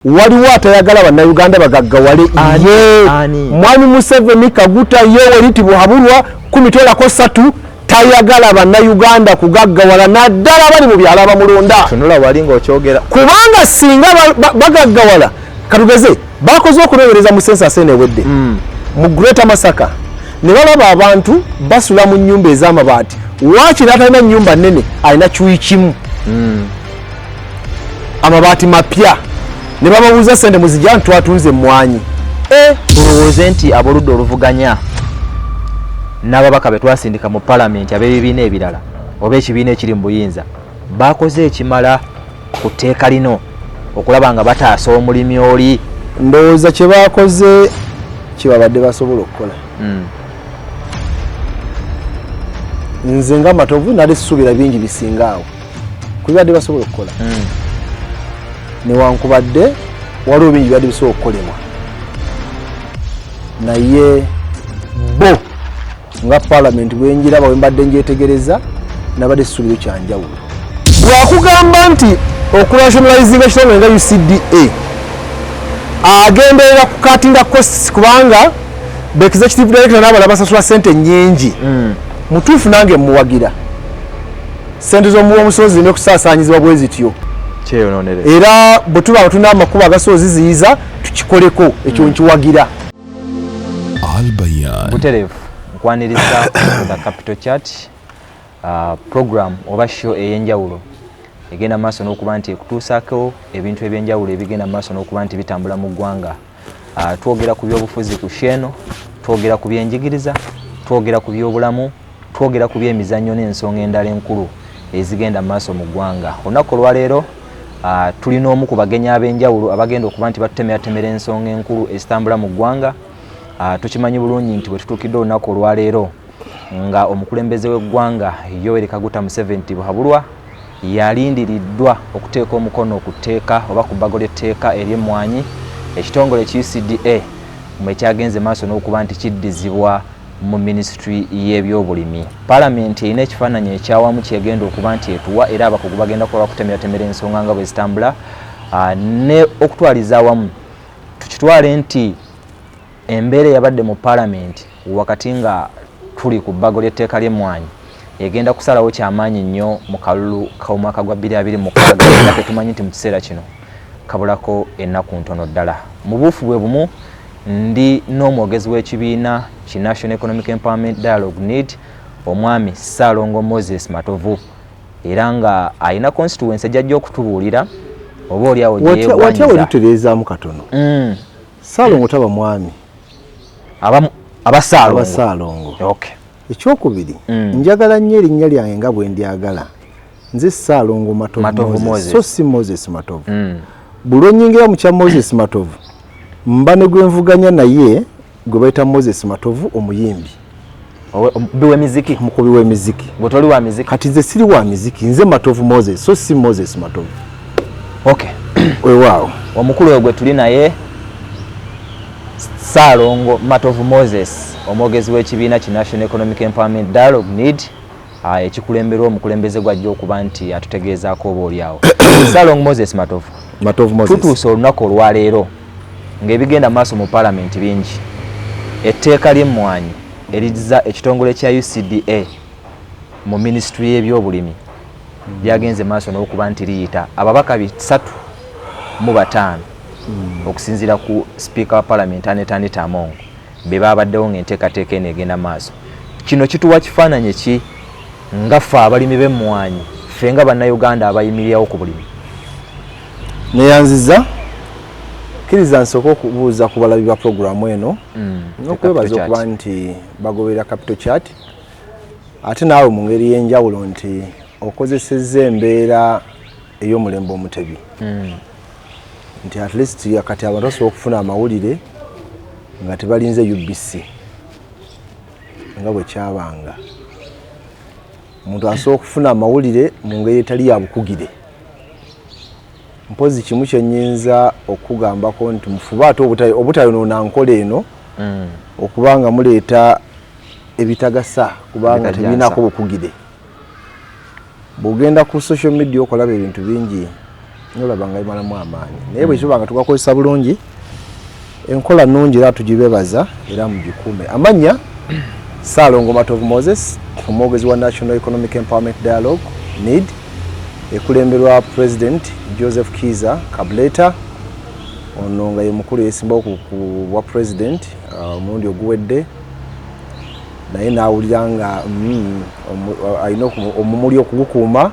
Waliwo atayagala bannayuganda bagaggawale ye mwami Museveni Kaguta Yoweri Tibuhaburwa kumitolako satu tayagala bannayuganda kugaggawala naddala abali mu byalo abamulonda kubanga singa bagaggawala katugeze bakoze okunowereza mu sensa sene ewedde hmm. mu greater masaka ne balaba abantu basula mu nnyumba ez'amabaati waakiri atalina nnyumba nnene alina kiwi kimu hmm. amabaati mapya ne bababuuza sente muzija nti twatunze emmwanyi eh! tulowooze nti aboludda oluvuganya n'ababaka be twasindika mu palamenti ab'ebibiina ebirala oba ekibiina ekiri mu buyinza bakoze ekimala ku tteeka lino okulaba nga bataasa omulimi oli ndowooza kye bakoze kye babadde basobola okukola hmm. nze nga matovu nali suubira bingi bisinga awo kubibadde basobola okukola hmm. newankubadde waliwo bingi bibadde bisobola okukolemwa naye bo nga palamenti bwenjiraba wembadde njetegereza nabadde sisuubiro kyanjawulo wakugamba nti okurationalizinga ekitongole nga ucda agenderera kukatinga costs kubanga bekizekitivdirekta nabala basasula sente nyingi hmm. mutuufu nange muwagira Ssente z'omuwa omusozi zirina okusaasaanyizibwa bwe zityo era bwe tuba nga tulina amakubo agasobola oziziyiza tukikoleko ekyo hmm. nkiwagira buterevu nkwaniriza the capital chat uh, program oba show ey'enjawulo egenda maaso n'okuba nti ekutuusaako ebintu eby'enjawulo ebigenda maaso n'okuba nti bitambula mu ggwanga Ah, twogera ku byobufuzi ku sheeno twogera ku byenjigiriza twogera ku byobulamu twogera ku byemizannyo n'ensonga endala enkulu ezigenda mu maaso mu ggwanga olunaku olwaleero ah, tulina omu ku bagenyi ab'enjawulo abagenda okuba nti batutemeratemera ensonga enkulu ezitambula mu ggwanga ah, tukimanyi bulungi nti bwe tutuukidde olunaku olwaleero nga omukulembeze w'eggwanga Yoweri Kaguta Museveni Tibuhaburwa yalindiriddwa okuteeka omukono ku tteeka oba ku bbago ly'etteeka ery'emmwanyi ekitongole ki UCDA mwe kyagenze maaso n'okuba nti kiddizibwa mu minisitule y'ebyobulimi. Palamenti erina ekifaananyi ekyawamu kyegenda okuba nti etuwa era abakugu bagenda kuba bakutemeratemera ensonga nga bwe zitambula ah, ne okutwaliza awamu tukitwale nti Embeera eyabadde mu Palamenti wakati nga tuli ku bbago ly'etteeka ly'emmwanyi egenda kusalawo kyamaanyi nnyo mu kalulu k'omwaka gwa bbiri abiri mukaaga era tetumanyi nti mu kiseera kino kabulako ennaku ntono ddala. Mu buufu bwe bumu ndi n'omwogezi w'ekibiina ki National Economic Empowerment Dialogue, need, Omwami Ssaalongo Moses Matovu era nga alina konsituwense gy'ajja okutubuulira oba olyawo gye yeegwanyiza. Watya we tutereezaamu katono. Mm. Salongo taba mwami abamu abasalongo abasalongo okay ekyokubiri mm. njagala nnyo erinnya lyange nga bwe ndyagala nze salongo matovu moses so si moses matovu mm. buli onyingira mu kya moses matovu mba ne gwe nvuganya naye gwe bayita moses matovu omuyimbi omukubi wemiziki omukubi wemiziki gwe toli wa miziki kati nze siri wa miziki nze matovu moses so si moses matovu okay wewaawo omukulu oyo gwe tuli naye saalongo matovu moses omwogezi w'ekibiina ki national economic empowerment dialogue need ah, ekikulemberwa omukulembeze gwajja okuba nti atutegeezaako oba olyawo saalongo moses matovu tutuuse olunaku olwaleero Ng'ebigenda mu maaso mu Palamenti bingi, etteeka ly'emmwanyi erizza ekitongole kya UCDA mu minisitule y'ebyobulimi lyagenze mu maaso n'okuba nti liyita ababaka bisatu mu bataano okusinziira ku sipiika wa Palamenti Annet Anita Among be baabaddewo ng'enteekateeka eno egenda mu maaso. Kino kituwa kifaananyi ki nga ffe abalimi b'emmwanyi, ffe nga Bannayuganda abayimirirawo ku bulimi? Neyanziza kiriza nsooka okubuuza ku balabi ba pulogulaamu eno mm, n'okwebaza okuba nti bagoberera capital chat ate naawe mu ngeri y'enjawulo nti okozesezza embeera ey'omulembe omutebi mm. nti at least kati abantu basobola okufuna amawulire nga tebalinze ubc nga bwe kyabanga omuntu asobola okufuna amawulire mu ngeri etali ya bukugire mpozi kimu kyenyinza okugambako nti mufube ate obutayonoona nkola eno mm. okuba nga muleeta ebitagasa kubanga tebirinako bukugire bwogenda ku social media okolaba ebintu bingi nolaba nga bimalamu amaanyi naye bwekiba nga tugakozesa bulungi enkola nungi era tugibebaza era mugikuume amanya saalongo matovu moses omwogezi wa national economic empowerment dialogue need ekulemberwa president joseph kiza kableta ono nga ye mukulu yesimbawo ku bwa president uh, omulundi oguwedde naye nawulira nga mm, alina omumuli okugukuuma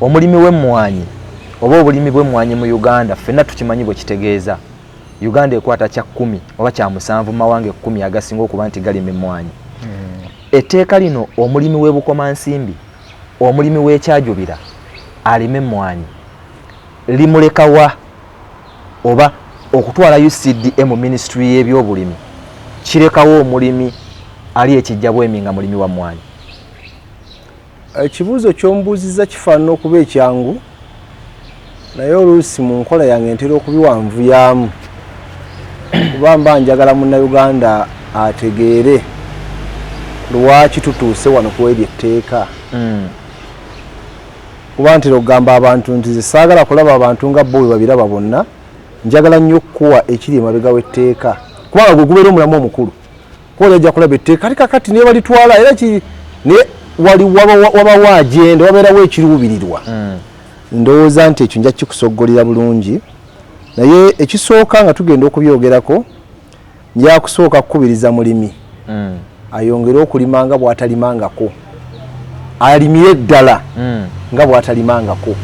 Omulimi w'emmwanyi oba obulimi bw'emmwanyi mu Uganda ffenna tukimanyi bwe kitegeeza. Uganda ekwata kya kkumi oba kya musanvu mu mawanga ekkumi agasinga okuba nti galima emmwanyi. Etteeka lino omulimi w'e Bukomansimbi, omulimi w'e Kyajubira alima emmwanyi limuleka wa oba okutwala UCDA mu minisitule y'ebyobulimi kirekawo omulimi ali e Kijjabwemi nga mulimi wa mmwanyi? Ekibuuzo ky'ombuuzizza kifaanana okuba ekyangu naye oluusi mu nkola yange ntera okubiwanvuyaamu kuba mba njagala munnayuganda ategeere lwaki tutuuse wano ku eryo etteeka hmm. kuba ntera okugamba abantu nti ze saagala kulaba abantu nga bo bwe babiraba bonna njagala nnyo okukuwa ekiri emabega w'etteeka kubanga gwe gubeera omulamu omukulu kuba naja kulaba etteeka ali kakati naye balitwala era ki naye wali wabawo agenda wabeerawo ekiruubirirwa hmm. ndowooza nti ekyo nja kikusoggolera bulungi naye ekisooka nga tugenda okubyogerako njakusooka kukubiriza mulimi hmm. ayongere okulima nga bwatalimangako alimire eddala mm. nga bwatalimangako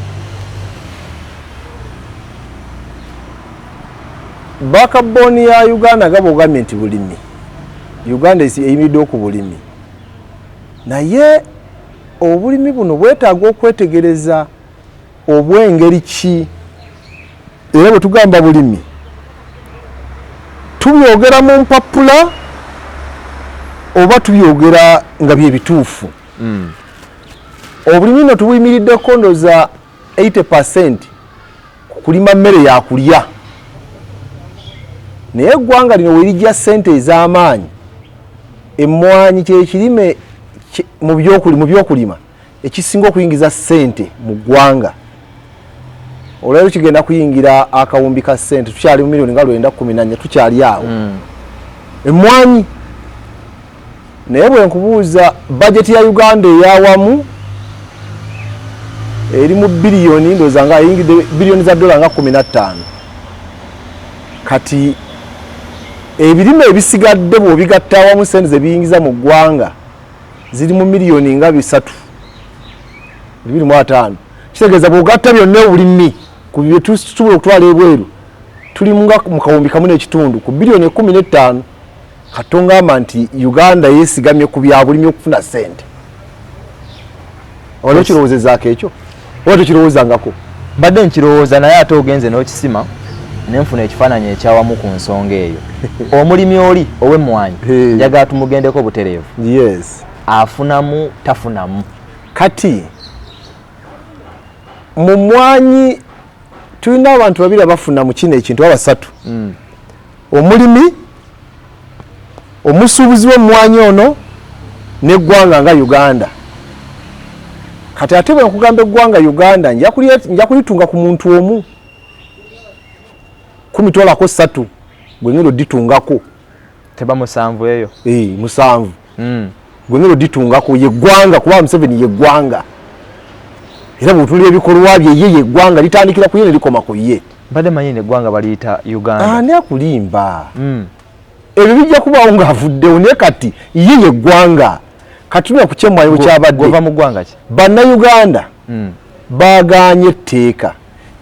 bakaboni ya uganda nga bogambye nti bulimi uganda eyimiddeo ku bulimi naye obulimi buno bwetaaga okwetegereza Obw'engeri ki? Era bwe tugamba bulimi, tubyogera mu mpappula oba tubyogera nga bye bituufu? Mm. Obulimi no tubuyimiridde kondo za 80 percent ku kulima mmere ya kulya. Naye eggwanga lino werijja ssente ez'amaanyi, emmwanyi kye kirime mu by'okulima. ekisinga okuyingiza sente mu ggwanga olwalero kigenda kuyingira akawumbi ka sente tukyali mu milioni nga lwenda kumi nanya tukyali awo mm. emwanyi naye bwenkubuuza bajeti ya uganda eyawamu eri mu biliyoni ndoza nga eyingidde biliyoni za dola nga kumi nattaano kati ebirime ebisigadde bwobigatta awamu sente zebiyingiza mu ggwanga ziri mu miliyoni nga bisatu bibiri mu ataano kitegeeza bwogatta byonna obulimi ku byetusobola okutwala ebweru tuli nga mu kawumbi kamu n'ekitundu ku biliyoni ekumi n'ettaano katongamba nti uganda yesigamye ku byabulimi okufuna sente olwekirowoozezaako ekyo oba tekirowoozangako mbadde nkirowooza naye ate ogenze n'okisima ne nfuna ekifaananyi ekyawamu ku nsonga eyo omulimi oli ow'emmwanyi njagala tumugendeko butereevu yes afunamu tafunamu kati mu mmwanyi tulina abantu babiri abafuna mu kino ekintu abasatu mm. omulimi Omusuubuzi w'emmwanyi ono n'eggwanga nga Uganda. Kati ate bwe nkugamba eggwanga Uganda nja kulitunga ku muntu omu kumitwalako satu gwe ngendo ditungako teba musanvu eyo musanvu mm. gwe ngeri oditungako yeggwanga kuba museveni yeggwanga era bwetulira ebikolwa bye ye yeggwanga litandikira ku ye nelikoma ku ye mbadde manyi neggwanga baliyita uganda ani akulimba mm. ebyo bijja kubaawo ngaavuddewo naye kati ye yeggwanga kati tuna kukyemwanyo bwekyabadde mu ggwanga ki bannayuganda mm. baganye etteeka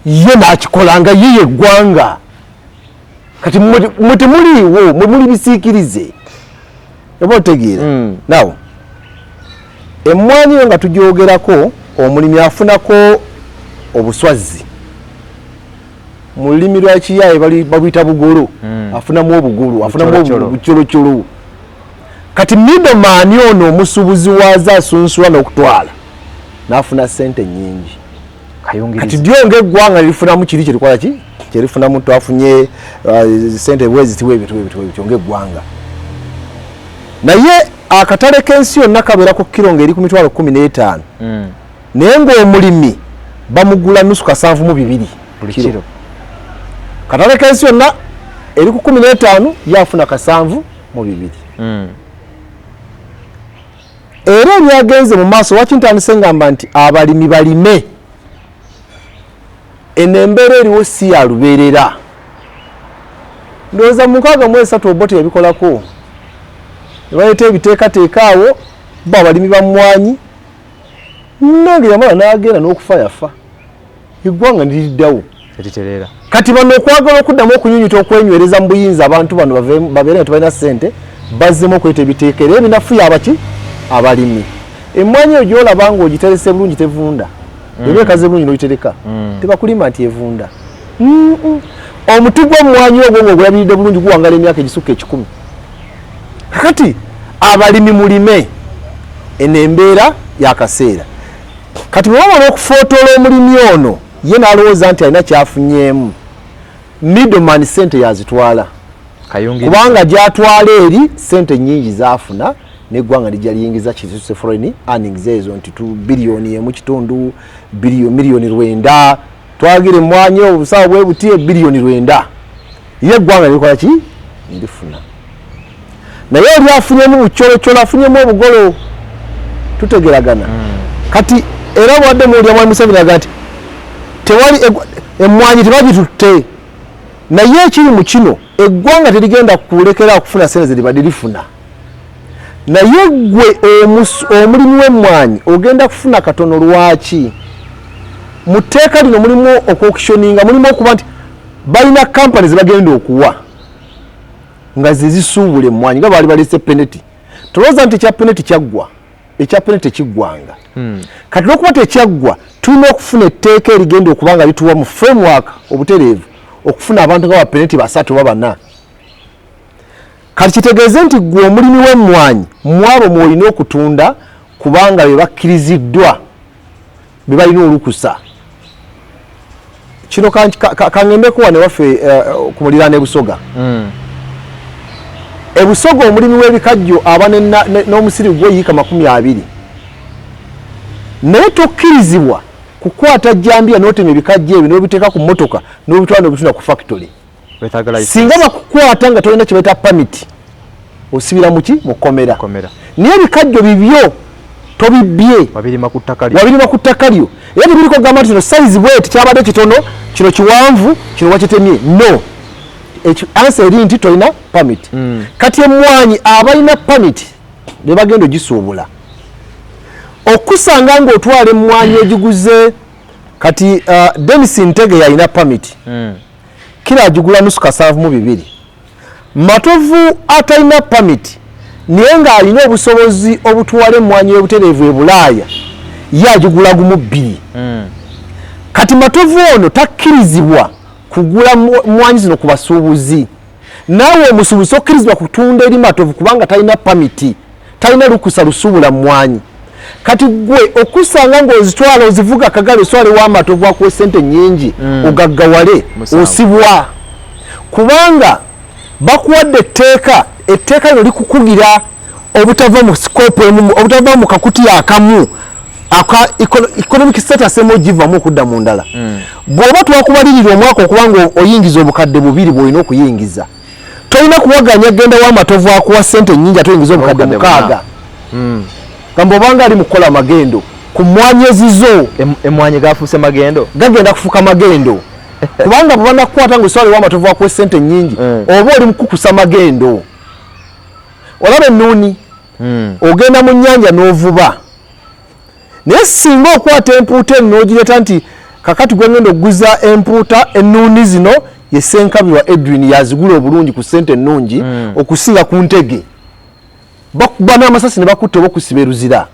ye nakikolanga ye yeggwanga kati mwe temuliiwo mwe muli bisiikirize oba otegeera hmm. nawo emmwanyi yo nga tugyogerako omulimi afunako obuswazzi mu lulimi lwa kiyaaye babuyita bugolo hmm. afunamu obugulu afunamu obucolocolou kati midomaani ono omusuubuzi waaza asunsula n'okutwala n'afuna ssente nnyingi kati dyo ngaeggwanga lirifunamu kiri kyerikola ki kyerifunamu twafunye uh, sente bwezitiwa ebintu ebintu ebityo ngaeggwanga naye akatale k'ensi yonna kabeera ku kiro ngaeri ku mitwalo kumi n'etaano hmm. naye ngaomulimi bamugula nusu kasanvu mu bibiri buli kiro katale k'ensi yonna eri ku kumi n'etaano yafuna kasanvu mu bibiri hmm. era ebyagenze mu maaso lwaki ntandise ngamba nti abalimi balime eno embeera eriwo si ya lubeerera ndowooza mu nkaaga mu esatu obote yabikolako ne baleeta ebiteekateeka awo bo abalimi ba mmwanyi nange yamala n'agenda n'okufa yafa eggwanga niriddawo eritereera kati bano okwagala okuddamu okunyunyuta okwenywereza mu buyinza abantu bano babeere nga tebalina ssente bazzemu okweta ebiteeka era ebinafu yabaki abalimi emmwanyi eyo gyolaba nga ogiterese bulungi tevunda mm. eba ekaze bulungi nogitereka mm. tebakulima nti evunda omuti gw'emmwanyi ogwo nga ogulabiridde bulungi guwangala emyaka egisukka ekikumi kakati abalimi mulime eno embeera yakaseera kati bwe bamala okufootoola omulimi ono ye n'alowooza nti alina kyafunyeemu middleman sente yazitwala kubanga gyatwala eri sente nyingi zafuna neggwanga lijja liyingiza kizuse foreign earnings ezo nti tu biliyoni emu kitundu miliyoni lwenda twagire emwanyi obusawo bwe buti ebiliyoni lwenda ye eggwanga likola ki ndifuna naye oli afunyemu bucolocola afunyemu obugolo tutegeragana hmm. kati era obwadde muwulira mwami museveni aga nti tewali emmwanyi tebagitutte naye ekiri mu kino eggwanga terigenda kulekera okufuna sente zeribadde lifuna naye gwe omulimi w'emmwanyi ogenda kufuna katono lwaki mu tteeka lino mulimu okwokishoninga mulimu okuba nti balina kampani zebagenda okuwa nga zezisuubula emmwanyi nga baali balese peneti tolowooza nti ekya peneti kyaggwa ekya peneti tekiggwanga hmm. kati lwokuba tekyaggwa tulina okufuna etteeka erigenda okuba nga lituwa mu framework obutereevu okufuna abantu nga bapeneti basatu oba bana kati kitegeeze nti gwe omulimi w'emmwanyi mwabo mwolina okutunda kubanga be bakkiriziddwa bebalina olukusa kino kangendeko wano ewaffe eh, ku muliraano ebusoga hmm. ebusoga omulimi w'ebikajjo aba n'omusiri gwe yiika makumi abiri naye tokkirizibwa kukwata jjambiya n'otema ebikajjo ebyo n'obiteeka ku mmotoka n'obitwala n'obitunda ku fakitole singa bakukwata nga tolina kyebaita pamiti osibira muki mukomera naye ebikajjo bibyo tobibbye wabirima ku ttaka lyo era tebiriko gamba nti kino sayizi bweti kyabadde kitono kino kiwanvu kino wakitemye no ansa eri nti tolina pamiti hmm. kati emwanyi abalina pamiti bebagenda ogisuubula okusanga ngaotwala emwanyi egiguze kati uh, denis ntege yalina pamiti hmm. kilo agigula nusu kasanvu mu bibiri matovu atalina pamiti naye ng'alina obusobozi obutwala emmwanyi y'obutereevu e bulaaya ye agigula gumu bbiri hmm. kati matovu ono takkirizibwa kugula mmwanyi zino ku basuubuzi naawe omusuubuzi tokkirizibwa kutunda eri matovu kubanga talina pamiti talina lukusa lusuubula mumwanyi kati gwe okusanga ngaozitwala ozivuga kagala oswale wamatovu akuwa esente nyingi mm. ogaggawale osibwa kubanga bakuwadde etteeka etteeka lino likukugira obutava mu sikopu emu obutava mu kakuti akamu aka economic status emu ogivamu okudda mu ndala hmm. bw'oba twakubalirira omwaka okuba nga oyingiza obukadde bubiri bw'olina okuyingiza tolina kuwaganya genda wa matovu akuwa sente enyingi ate oyingiza obukadde mukaaga hmm. gamba obanga ali mukukola magendo ku mmwanyi ezizo emmwanyi gafuuse magendo gagenda kufuuka magendo kubanga bwebanakukwata nga oswala ewamatovu akuwa sente nyingi hmm. oba oli mukukusa magendo olaba ennuuni hmm. ogenda mu nyanja n'ovuba naye singa okwata empuuta eno n'ogireta nti kakati gwengenda okuguza empuuta ennuuni zino yesenkabi wa edwin yazigula obulungi ku sente ennungi hmm. okusinga ku ntege bakuba n'amasasi ne bakutta oba okusiba eruzira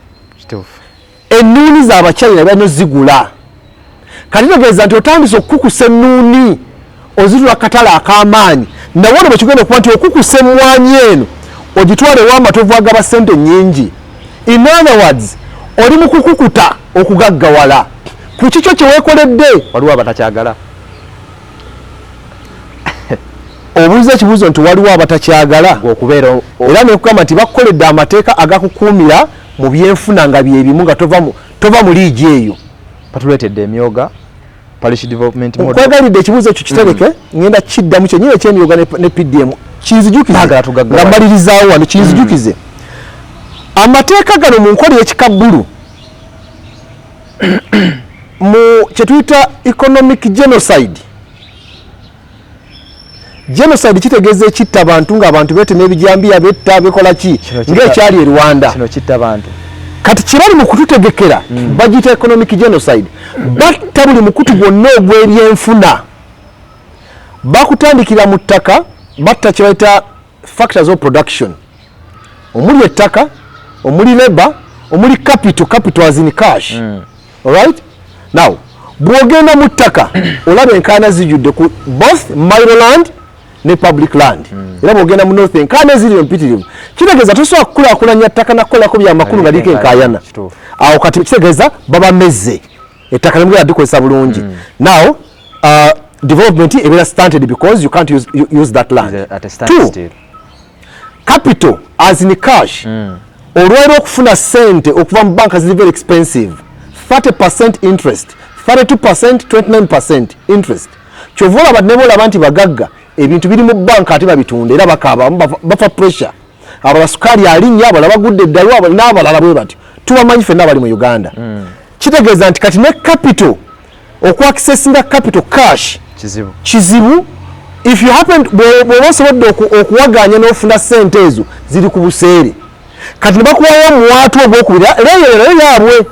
Ennuuni za Bachina bano zigula kati tegeeza nti otandise okukukusa ennuuni ozitula katale ak'amaanyi nawe ono bwekigenda okuba nti okukusa emmwanyi eno ogitwalewo amatovu agaba ssente nnyingi in other words oli mu kukukuta okugaggawala ku kikyo kye weekoledde waliwo abatakyagala obuuza ekibuuzo nti waliwo abatakyagala okubeera era nekugamba nti bakukoledde amateeka agakukuumira mu byenfuna nga byebimu nga tova mu tova mu liigi eyo batuleetedde emyoga parish development model nkwagalidde ekibuuzo ekyo kitereke mm. ngenda kiddamu kyenyini ekyemyoga ne pdm kinzijukize nga malirizaawo wano kinzijukize mm. amateeka gano mu nkola y'ekikabbulu mu kyetuyita economic genocide genocide kitegeza ekitta abantu nga abantu bete nebijambiya betta bekola ki ngaekyali e rwanda kino kitta bantu kati kyebali mu kututegekera mm. bagita economic genocide batta buli mukutu gwonna ogw'ebyenfuna bakutandikira mu ttaka batta kyebayita factors of production omuli ettaka omuli labor omuli capital capital as in cash mm. alright now bwogenda mu ttaka olaba enkaana zijudde ku both miroland ne public land mm. era bwogenda mu north enkaana eziri empitirivu kitegeeza tosobola kukulakulanya ttaka nakukolako byamakulu nga liko enkayana awo kati kitegeeza babamezze ettaka nemugera dikozesa bulungi mm. now uh, development ebeera stunted because you can't use, use that land two capital as in cash mm. olwera okufuna sente okuva mu banka ziri very expensive 30 percent interest 32 percent 29 percent interest kyova olaba neba olaba nti bagagga ebintu biri mu banka ate babitunda era bakaaba bafa pressure abala sukaali alinnya abala bagudde eddalu n'abalala bwe batyo tubamanyi fenna abali mu uganda mm. kitegeeza nti kati ne capital okuaccessinga capital cash kizibu kizibu if you happen bwoba osobodde okuwaganya n'ofuna sente ezo ziri ku buseere kati nebakuwayo omuwaatu ogwokubira leeyo nayo yaabwe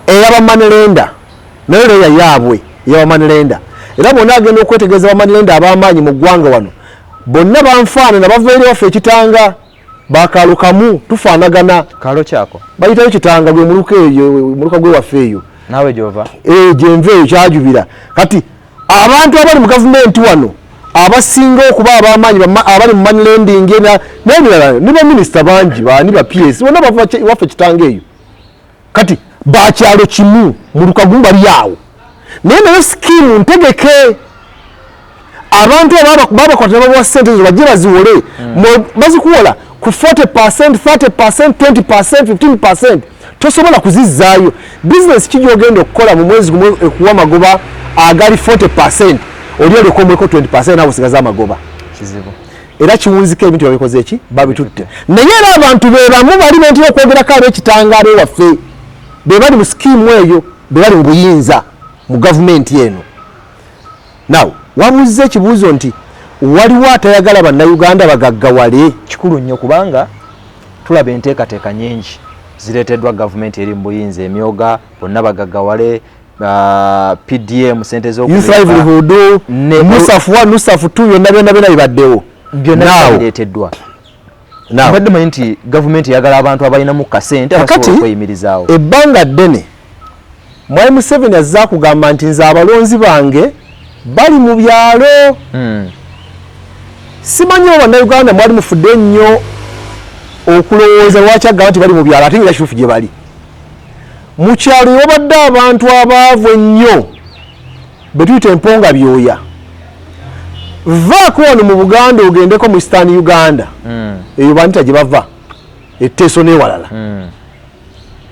eyabamanelenda nayo leeya yaabwe eyabamanelenda era bonna agenda okwetegereza bamanelenda ab'amaanyi mu ggwanga wano bonna banfaanana bava eri waffe ekitanga bakalo kamu tufanagana kalo kyako bayitayo kitanga gwe muluka eyo muluka gwe wafe eyo nawe jova eh jenve eyo kyajubira kati abantu abali mu government wano abasinga okuba abamaanyi abali mu money lending na nebirala ne ba minister bangi bani ba PS bona bava wafe kitanga eyo kati bakyalo kimu mulukagumu bali awo naye naye sikimu ntegeke abantu babakwatira babawa sente ezo bajje baziwole hmm. bazikuwola ku 40 percent 30 percent 20 percent 15 percent tosobola kuzizzaayo bizinesi ki gyogenda okukola mu mwezi gumu ekuwa amagoba agali 40 percent oli olyokomweko 20 percent nawe osigaza amagoba kizibu era kiwunzika ebintu babikoze eki babitutte naye era abantu bebamu bali bentera okwogerako ab'ekitangaalo waffe be bali mu sikiimu eyo be bali mu buyinza mu gavumenti eno naw wabuuzza ekibuuzo nti waliwo atayagala bannayuganda bagaggawale kikulu nnyo kubanga tulaba enteekateeka nyingi zireeteddwa gavumenti eri mu buyinza emyoga bonna bagaggawale uh, PDM sente zo Youth livelihood ne Musaf 1 Musaf 2 byonna byonna byonna bibaddewo byonna bireeteddwa now badde manyi nti government yagala abantu abalina mu kasente abasobola okweyimirizaawo ebbanga ddene mwali Museveni azza kugamba nti nze abalonzi bange bali mu byalo hmm. simanyi oba bannayuganda mwali mufudde nnyo okulowooza lwaki agamba nti bali mu byalo ate nga kituufu gye bali mu kyalo ewabadde abantu abaavu ennyo be tuyita emponga byoya vaako wano mu buganda ogendeko mu eastern uganda hmm. eyo banita gye bava etteeso n'ewalala hmm.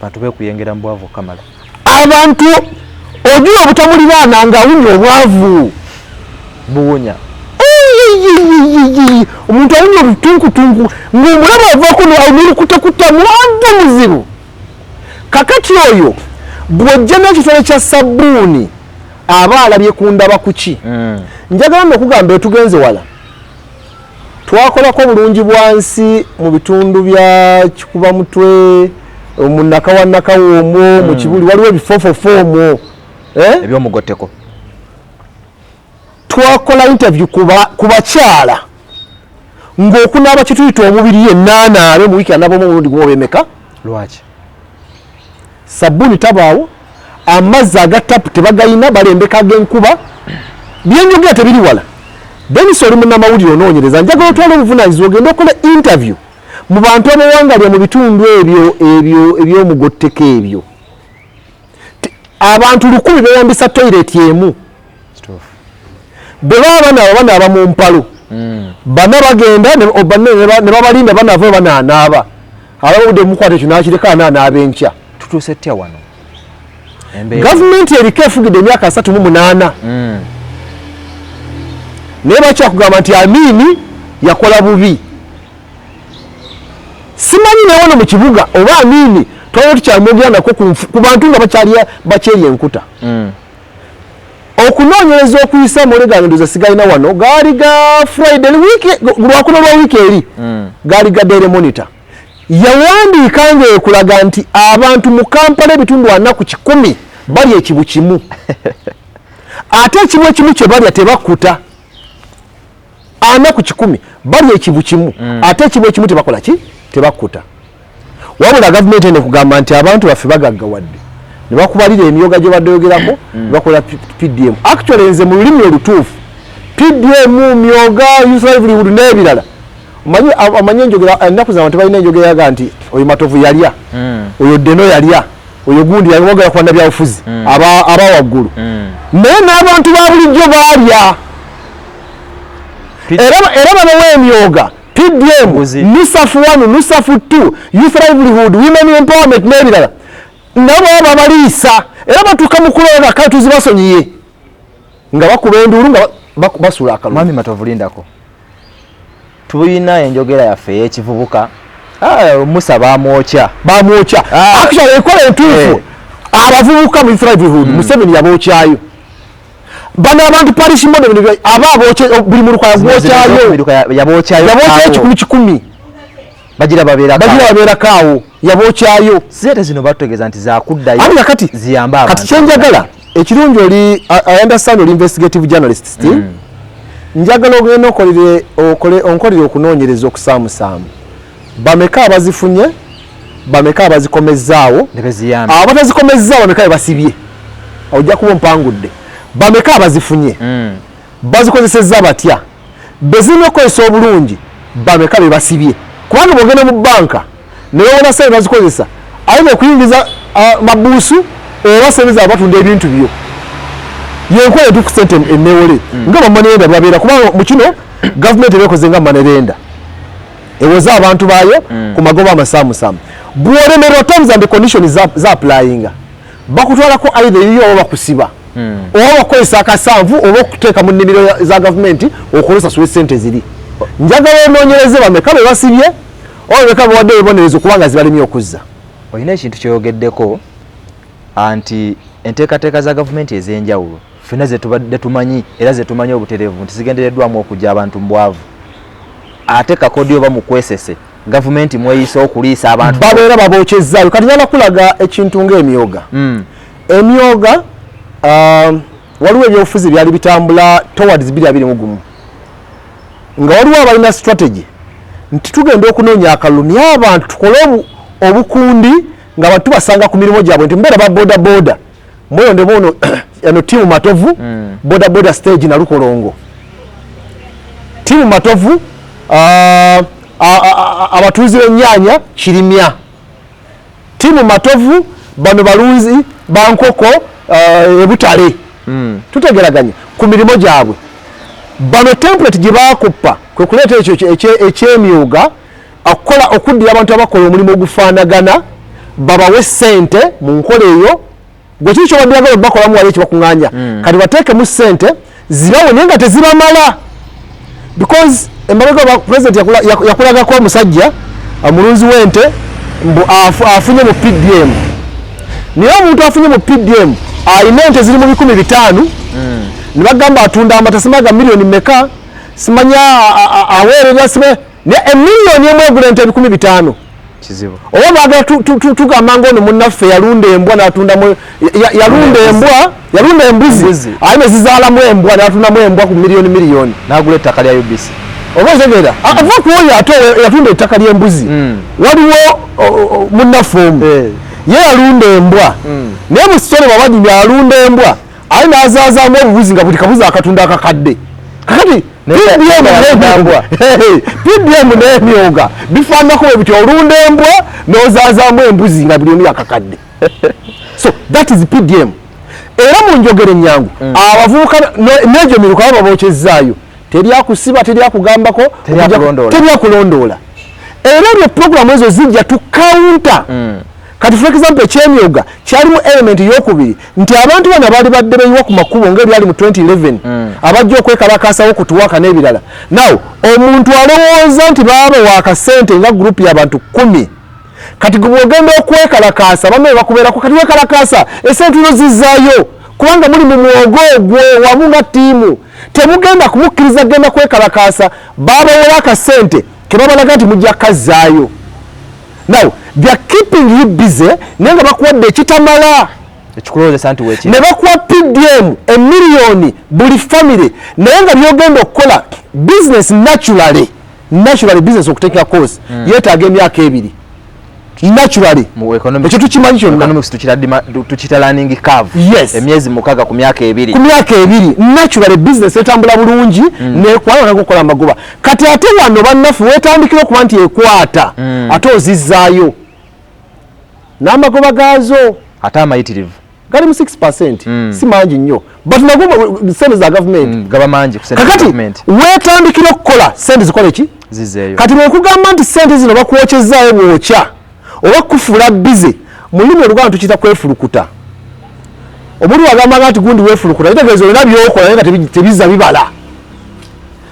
bantu bekuyengera mu bwavu okamala abantu ojula obutamuliraana nga awunya obwavu buwunya omuntu awunya obutunkutunku ng'omulaba avako nolukutekutta mwandu muzibu kakati oyo bwojja nekitole kya sabuuni aba alabye kundaba kuki mm. njagala nokugamba etugenze wala twakolako bulungi bwansi mu bitundu bya kikuba mutwe omunaka wanaka womwo mm. mukibuli waliwo ebifofofo omwo eh? ebyomugoteko twakola interview ku bakyala ng'okunaaba kituyita omubiri yennaanaabe mu wiiki anaabamu omulundi gumu obemeka lwaki sabbuuni tabaawo amazzi aga tapu tebagayina balembeka ag'enkuba byenjogera tebiri wala denis oli munamawulire onoonyereza njagala otwala obuvunanyizibwa ogenda okola interview mu bantu abawangalya mu bitundu ebyo ebyo ebyomugotteko ebyo abantu lukumi beyambisa toyireti emu bwe baba banaaba banaaba mu mpalo hmm. bana bagenda ne babalinda banava banaanaaba alabudde mukwata ekyo nakireka anaanaaba enkya tutuuse tya wano gavumenti eriko efugidde emyaka asatu mu munaana hmm. naye bakyakugamba nti amiini yakola bubi simanyi naye wano mu kibuga oba amiini twalina tukyamwogeranako ku bantu nga bakyerya enkuta hmm. Okunoonyereza okuyise amawulire gange ndoza sigalina wano gaali ga Friday lwakuna lwa wiiki eri hmm. gaali ga Daily Monitor yawandiika ng'ekulaga nti abantu mu Kampala ebitundu ana ku kikumi bali ekibu kimu ate ekibu ekimu kye balya tebakkuta ana ku kikumi bali ekibu kimu mm. ate ekibu ekimu tebakola ki tebakkuta wabula gavumenti ene kugamba nti abantu baffe bagaggawadde ne bakubalira emyoga gye baddeyogerako mm. ne bakola pdm actually nze mu lulimi olutuufu pdm myoga uslivelihood n'ebirala omanyi enjogera ennaku zabantu balina enjogera yaga nti oyo matovu yalya mm. oyo deno yalya oyo gundi yawagala kwanda byabufuzi mm. aba aba wagulu mm. naye n'abantu ba bulijjo baalya era era babawa emyoga pdm nusafu one nusafu two youth livelihood women empowerment n'ebirala nabo babaliisa era batuuka mu kulonda kale tuzibasonyiye nga bakuba enduulu nga basula akalumami matavulindako tulina enjogera yaffe eyekivubuka ah, musa bamwokya bamwokya ah. actually ekola entuufu eh. abavubuka mu thrivehood hmm. museveni yabokyayo bano abantu parish model aba abokye buli muluka yabokyayo yabokyayo kikumi kikumi bagira babera kawo bagira babera kawo yabo kyayo sete zino batogeza nti za kudda yo anga kati ziyamba abantu kati kyenjagala ekirungi oli i understand oli investigative journalist still mm. njagala ogenda okolere okole onkolere okunonyereza okusamusaamu bameka abazifunye bameka abazikomezzaawo abatazikomezzaawo bameka bebasibye ojja kuba ompangudde bameka abazifunye mm. bazikozesezza batya bezirina okukozesa obulungi bameka bebasibye kubanga bogenda mu banka nebawona sente bazikozesa aye nekuyingiza mabuusu oba sente zaba batunda ebintu byo yenkola etuku sente enewole hmm. nga bamanerenda babeera kubanga mukino gavumenti ebekoze nga manerenda ewoza abantu bayo hmm. ku magoba amasamusamu bwolemerwa terms and condition zaplayinga za bakutwalako aidha eyiyo oba bakusiba hmm. oba bakukozesa akasanvu oba okuteeka mu nnimiro za gavumenti okozesasula esente ziri njagala onoonyereze bameka be basibye oba bameka bewadde ebibonerezo kubanga zibalemye okuzza olina ekintu kyoyogeddeko anti enteekateeka za gavumenti ez'enjawulo fena zetubadde tumanyi era zetumanyi obuterevu nti zigendereddwamu okujja abantu mu bwavu ate kakodi oba mukwesese gavumenti mweyisa okuliisa abantu babeera babokyezaayo kati nyala kulaga ekintu ngaemyoga mm. emyoga um, waliwo ebyobufuzi byali bitambula towards biri abiri mugumu nga waliwo abalina strategy nti tugenda okunoonya akalulu naye abantu tukole obukundi nga abantu tubasanga ku mirimu gyabwe nti mbeera ba boda boda mwoyo ndemu ono eno timu matovu mm. boda boda stage na lukolongo timu matovu uh, abatuuzi b'ennyanya kirimya tiimu matovu bano balunzi bankoko uh, ebutale hmm. tutegeraganya ku mirimu gyabwe bano template gye bakuppa kwe kuleeta ekyo ekyemyuga okukola okuddira abantu abakola omulimu ogufaanagana babawe sente mu nkola eyo gwekiri kyobaddiraga webakolamu wali ekibakunganya hmm. kati bateekemu sente zibawe naye nga tezibamala because emabega president yakulagako omusajja omulunzi uh, wente mbu afunye mu pdm naye omuntu afunye mu pdm alina ente ziri mu bikumi bitaano hmm. nebagamba atunda amata simaga miliyoni meka simanya aweerera sibe ne emiliyoni emu egula ente ebikumi bitaano kizibu oba bagala tugamba ngaono munaffe yalunda embwa natundamu yalunda embwa yalunda embuzi aye nezizaalamu embwa natundamu embwa ku miliyoni miliyoni nagula ettaka lya ubc oba ozegeera ava mm. kuoyo ate yatunda ettaka lyembuzi mm. waliwo munaffe omu eh. ye yalunda embwa mm. naye musitone bwabanyumya alunda embwa aye nazazaamu obubuzi nga buli kabuzi akatunda akakadde kakati pdm nemyoga bifanako webiti olunda embwa nozazamu embuzi nga buli emu yakakadde so that is pdm era munjogere nyangu mm. abavubuka negyo miruka baba bokyezaayo teryakusiba teryakugambako teryakulondoola era ebyo programu ezo zijja tukaunta mm. Kati for example ekyemyoga kyalimu element yokubiri nti abantu bano abaali badde beyiwa ku makubo ngaebyali mu 2011 mm. abajja okwekalakasawo kutuwaka n'ebirala naw omuntu alowooza nti baaba wakasente nga group yabantu kumi kati gwebwogenda okwekalakaasa bama ebakubeerako kati wekalakaasa esente no zizayo kubanga muli mu mwogo ogwo wamu nga tiimu temugenda kumukkiriza genda kwekalakaasa babawola akasente tebabalaga nti mujja kazzaayo now they are keeping you busy naye nga bakuwadde ekitamala ekikulowozesa nti weki ne bakuwa pdm emiliyoni buli famire naye nga byogenda okukola business naturally naturally business okuteeka course mm. yetaaga emyaka ebiri naturally mu economic ekyo tukimanyi kyonna economics tukira dima tukira learning curve yes emyezi mukaga ku myaka ebiri ku myaka ebiri naturally business etambula bulungi mm. ne kwa na kukola magoba kati ate wano banafu wetandikira okuba nti ekwata mm. ate ozizaayo n'amagoba gaazo ate amayitirivu gali mu 6% mm. si mangi nnyo but nago sente za gavumenti mm, gaba mangi kakati wetandikira okukola sente zikole ki zizeeyo kati bwekugamba nti sente zino bakwokyezaayo bwokya oba kufuula bize mu lulimi oluganda tukiyita kwefulukuta omuli wagambanga nti gundi wefulukuta kitegeeza olina byokola naye nga tebiza bibala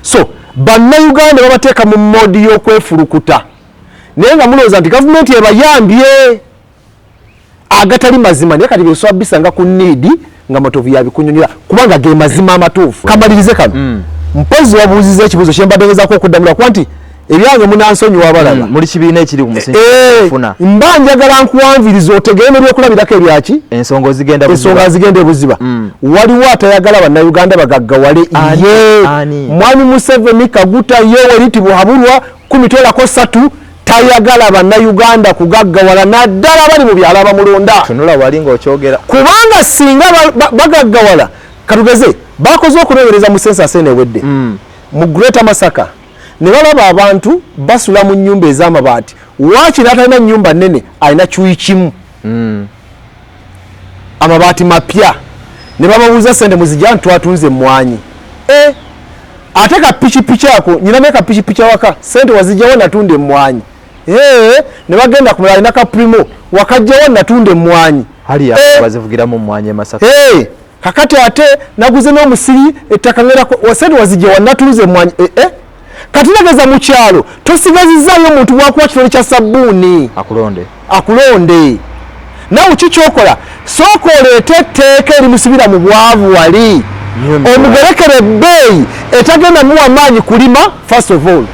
so bannayuganda babateeka mu modi y'okwefulukuta naye nga mulowooza nti gavumenti ebayambye agatali mazima naye kati byosobola bisanga ku niidi nga matovu yabikunyonyola kubanga ge mazima amatuufu kamalirize kano mm. mpozi wabuuziza ekibuuzo kyembadde ngezako okuddamula kuba nti ebyange munansonyiwa abalaba mm, muli kibiina ekiri ku musingi eh, mba njagala nkuwanviriza otegere nebyokulabirako ebyaki ensonga zigenda ebuziba mm. waliwo atayagala bannayuganda bagaggawale ye mwami museveni kaguta yoweri tibuhaburwa kumitwelako satu tayagala bannayuganda kugaggawala naddala abali mu byalo abamulonda tunula wali ngaokyogera kubanga singa bagaggawala katugeze bakoze okunowereza mu sensa sene ewedde mm. mu greater masaka ne balaba abantu basula mu nyumba ez'amabaati waaki n'atalina nyumba nnene alina kyuyi kimu mm. amabaati mapya ne bababuuza sente muzijani twatunze emmwanyi e ate ka pikipiki ako nyina naye ka pikipiki awaka sente wazijjawo natunda emmwanyi ee ne bagenda kumala alina ka primo wakajjawo natunda emmwanyi bazivugiramu mmwanyi emasaka ee kakati ate naguze n'omusiri ettaka ngera sente wazijjawo natunze emmwanyi ee katinageza mukyalo tosigazizayo omuntu wakuwa kitole kya sabbuuni akulonde akulonde nawe kikyokola sooka oleete etteeka erimusibira mu bwavu wali omugerekere ebbeeyi etagenda muwa maanyi kulima first of all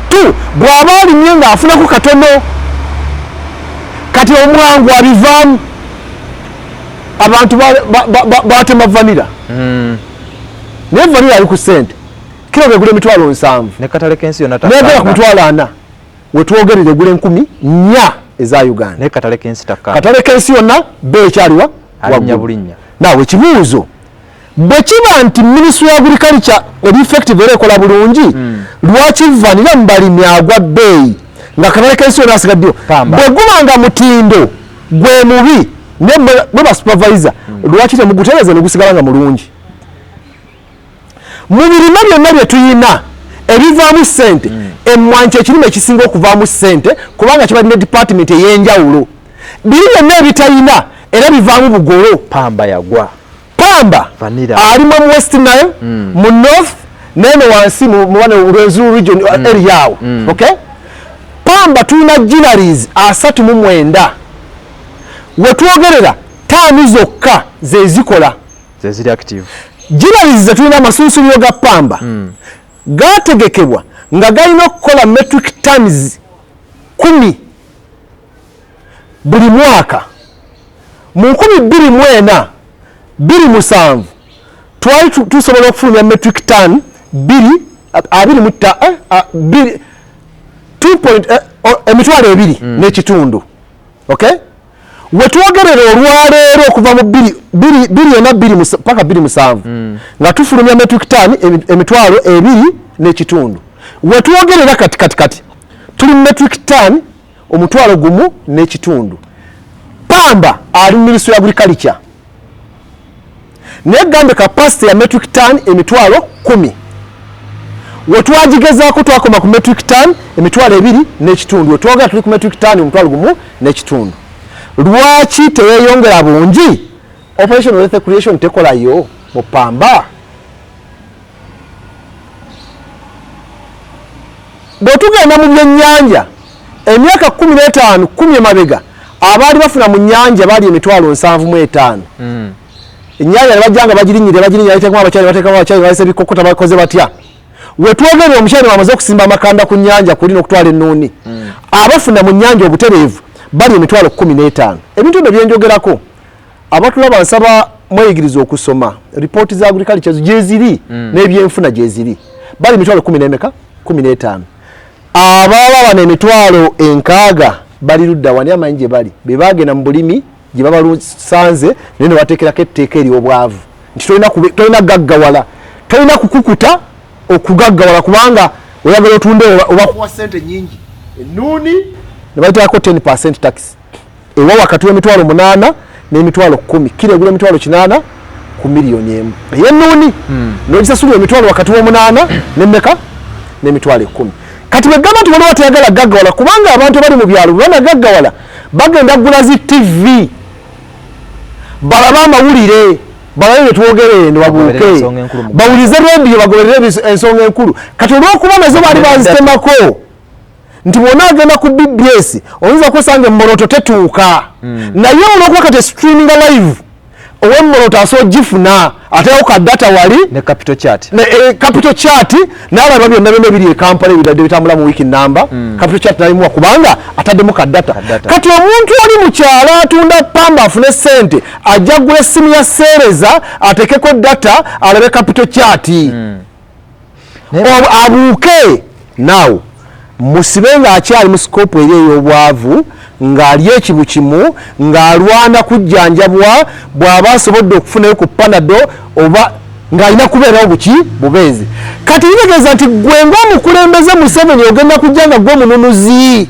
two bw'aba alimye ng'afunako katono kati omwangu abivaamu abantu batema vanira hmm. naye vanira ali ku sente kilo begula emitwalo nsanvu nekatale kensi yona nayagala ku mitwalo ana wetwogerera egula enkumi nya eza uganda naye katale kensi takka katale kensi yonna be ekyaliwa alinya bulinya naawe ekibuuzo bwe kiba nti minisitule ya agriculture eri effective era ekola bulungi hmm. lwaki vanira mu balimi agwa bbeeyi nga katale kensi yonna asigaddeyo bwe guba nga mutindo gwe mubi ne bwe basupervisa hmm. lwaki temugutereza ne gusigala nga mulungi mu birime byonna bye tulina ebivaamu ssente mm. emmwanyi kyekirime ekisinga okuvaamu ssente kubanga kibadde ne dipatimenti ey'enjawulo biri byonna ebitalina era bivaamu bugolo pamba yagwa pamba ali mu west nile mm. mu north nene wansi mubane rwenzuru region uh, mm. area awo mm. okay pamba tulina ginaries asatu mu mwenda wetwogerera taani zokka zezikola zeziri active jirabizi zetulina amasunsuliro ga pamba mm. gategekebwa nga galina okukola metric tons kumi buli mwaka mu nkumi bbiri mu ena bbiri musanvu twali tusobola okufulumya metric ton bbiri abiri mutta eh, emitwalo ebiri mm. n'ekitundu okay wetwogerera olwaleero okuva mu biri ena paka biri musanvu hmm. nga tufulumya metric ton emitwalo ebiri n'ekitundu wetwogerera kati kati kati tuli mu metric ton omutwalo gumu n'ekitundu pamba ali mu ministry ya agriculture naye gambe kapasite ya metric ton emitwalo kumi wetwagigezaako twakoma ku metric ton emitwalo ebiri n'ekitundu wetwogera tuli ku metric ton omutwalo gumu n'ekitundu lwaki teyeyongera bungi operation wealth creation tekolayo mupamba bwetugenda mu byennyanja emyaka kumi n'etaano kumi emabega abaali bafuna mu nyanja baali emitwalo nsanvu mu etaano hmm. enyanja nebajjanga bagirinyire bagirinyira batekamu abakyali batekamu abakyali balese bikokota bakoze batya wetwogerera omukyali wamaze okusimba amakanda ku nyanja kuli n'okutwala ennuuni hmm. abafuna mu nyanja obutereevu bali emitwalo kumi n'etaano ebintu ebyo byenjogerako abatulaba nsaba mweyigiriza okusoma ripooti za agriculture gyeziri mm. n'ebyenfuna gyeziri bali emitwalo kumi n'emeka kumi n'etaano ababa bano emitwalo enkaaga bali ludda wani amanyi gye bali be bagenda mu bulimi gye babalusanze naye nebateekerako etteeka ery'obwavu nti tolina gaggawala tolina kukukuta okugaggawala kubanga oyagala otunde obakuwa sente nyingi enuuni nebateekako 10 percent taxi ewa wakati w'emitwalo munaana n'emitwalo kumi kira egula emitwalo kinaana ku miliyoni emu eyenuuni hmm. nogisasula emitwalo wakati w'omunaana nemeka n'emitwalo ekumi kati bwegamba nti waliwo atayagala gaggawala kubanga abantu abali mu byalo bwebanagaggawala bagenda kugula zi tivi balabe amawulire balabe byetwogerere newabuuke bawulize rediyo bagoberere ensonga enkulu kati olwokuba nazo baali bazitemako nti bwona agenda ku bbs oyinza kwesanga emmoloto tetuuka mm. naye olwokuba kati streaming live owemmoloto asobola ogifuna ateyako ka data wali ne capital chat ne eh, capital chat nalaba byonna byonna ebiri ekampala ebidadde bitambula mu wiki namba mm. capital chat nalimuwa kubanga ataddemu ka data kati omuntu ali mu kyalo atunda pamba afune sente ajja gula essimu ya seereza atekeko data alabe capital chat mm. abuuke now musibe ng'akyali mu sikopu eri ey'obwavu ng'ali ekibu kimu ng'alwana kujjanjabwa bw'aba asobodde okufunayo ku panado oba ng'alina kubeerawo buki bubeezi kati kitegeeza nti gwe ng'omukulembeze museveni ogenda kujja nga gwe omununuzi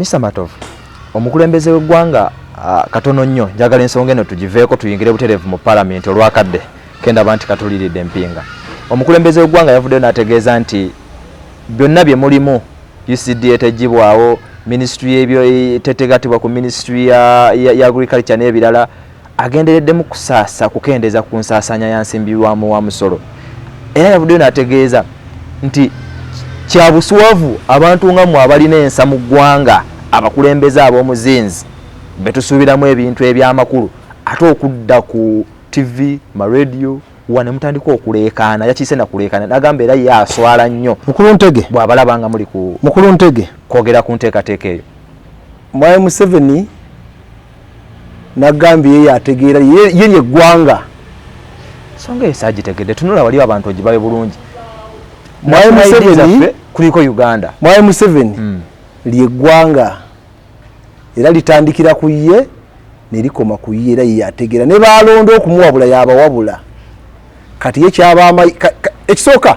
Mr Matovu, omukulembeze w'eggwanga ah, katono nnyo njagala ensonga eno tugiveeko tuyingire butereevu mu palamenti olwakadde kendaba nti katuliridde mpinga omukulembeze w'eggwanga yavuddeyo n'ategeeza nti byonna bye mulimu ucd etejjibwawo minisitule y'ebyo tetegatibwa ku minisitule ya agriculture n'ebirala agendereddemu kusaasa kukendeeza ku nsaasaanya ya nsimbibwamu wa musolo era yavuddeyo n'ategeeza nti kya buswavu abantu nga mwe abalina ensa mu ggwanga abakulembeze ab'omuzinzi be tusuubiramu ebintu eby'amakulu ate okudda ku ttivi marediyo wa ne mutandika okuleekaana yakiise nakuleekaana n'agamba era ye aswala nnyo mukulu ntege bw'abalaba nga muli ku mukulu ntege kwogera ku nteekateeka eyo mwayi museveni nagambye ye yategeera ye lye ggwanga songa eyo sagitegedde tunula waliwo abantu ogibawe bulungi mwayi museveni kuliko uganda mwayi museveni hmm. lye ggwanga era litandikira ku ye nerikoma ku ye era ye yategeera ne baalonda okumuwabula yabawabula kati ye kyaba ekisooka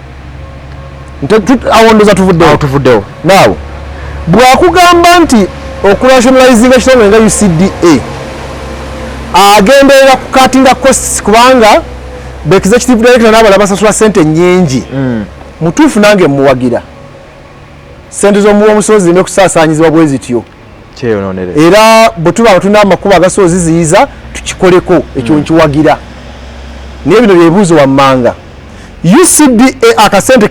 awo ndoza tuvuddewo tuvuddewo naawo bwakugamba nti okurationalizinga kitongole nga ucda agenderera kukatinga costs kubanga bekiza kitivu director nabala basasula sente nyingi mm. mutuufu nange muwagira sente zomuwa omusozi nekusasanyizibwa bwezityo era bwe tuba nga tulina amakubo agasobola oziziyiza tukikoleko ekyo hmm. nkiwagira naye bino byebuuzo wammanga ucda akasente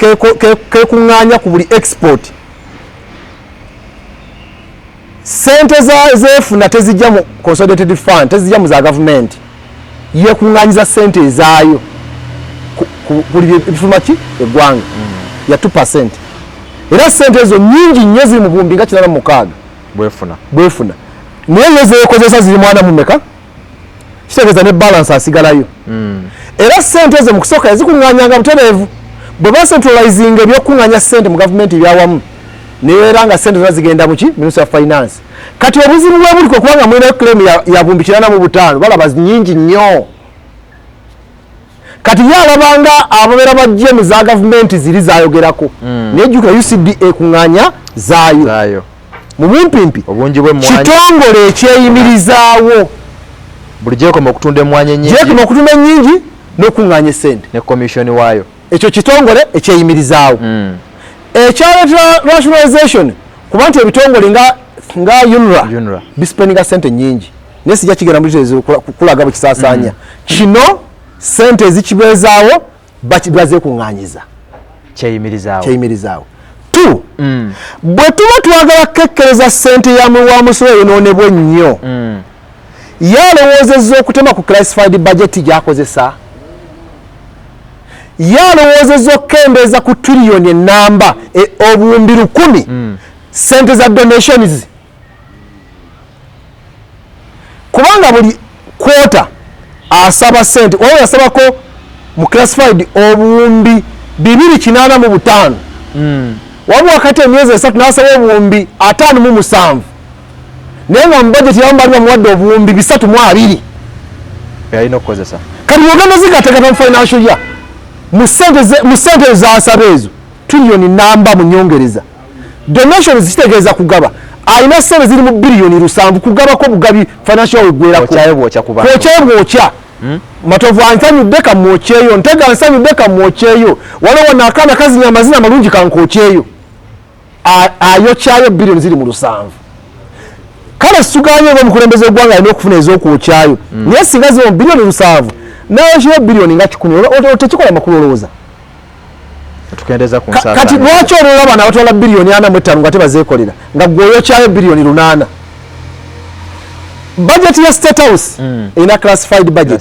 kekuŋŋaanya ku buli export sente zefuna tezijja mu consolidated fund tezijja mu za gavumenti yekunganyiza sente ezaayo buli ebifuluma ki eggwanga ya two percent era sente ezo nyingi nnyo ziri mu bumbi nga kinana mu mukaaga bwefuna bwefuna naye yo zeekozesa ziri mwana mumeka kitegeeza ne balansi asigalayo hmm. era sente ezo mu kusooka yazikunganyanga butereevu bwe bacentralizinga ebyokuŋanya sente mu gavumenti ebyawamu neera nga sente zona zigenda muki minista ya finance kati obuzibu bwebuli kwekubanga mulinayo claim yabumbi kirana mu butaano balaba nyingi nnyo kati ye alabanga ababeera bajje mu za gavumenti ziri zayogerako hmm. naye jukira ucd ekuŋŋanya zaayo mu bumpimpi kitongole ekyeyimirizaawo buli gyekoma okutunda emwanyi enyingi gyekoma okutunda enyingi n'okuŋŋanya esente ne komisioni waayo ekyo kitongole ekyeyimirizaawo mm. ekyaleetera rationalization kuba nti ebitongole nga nga unra bispeninga sente nyingi naye sijja kigenda mukulaga bwekisasanya mm. kino sente ezikibeezaawo bazekung'anyiza kyeyimirizaawo tu mm. bwe tuba twagala kukekkereza sente wa musolo eyonoonebwa ennyo mm. ye alowoozezza okutema ku classified bajeti gyakozesa ye alowoozezza okukendeeza ku triliyoni enamba e, obuwumbi lukumi mm. sente za donations kubanga buli kwota asaba sente oyo yasabako mu classified obuwumbi bibiri kinaana mu butaano mm. wabula kati emyezi esatu nasaba obuwumbi ataano mu musanvu naye nga mu bajeti yamu bali bamuwadde obuwumbi bisatu mu abiri yalina okukozesa kati ogenda zigategata mu financial ya mu sente zasaba ezo tuliyoni namba mu nyongereza donation zitegeeza kugaba alina sente ziri mu biliyoni lusanvu kugabako obugabi financial wegwerakookyayo bwokya hmm? matovu ansanyudde kamwokyeyo ntega ansanyudde kamwokyeyo waliwo nakaana kazinya amazina amalungi kankokyeyo ayokyayo billion ziri mu lusanvu kale situganye nga omukulembeze wegwanga alina okufuna ezokwokyayo mm. naye singa ziri mu billion lusanvu nayokyayo billion nga kikumi tekikola makulu olowooza kati lwaki olwola abana abatwala billion ana mu ettano nga tebazekolera nga gweoyokyayo billion lunana bajeti ya state house mm. erina classified budget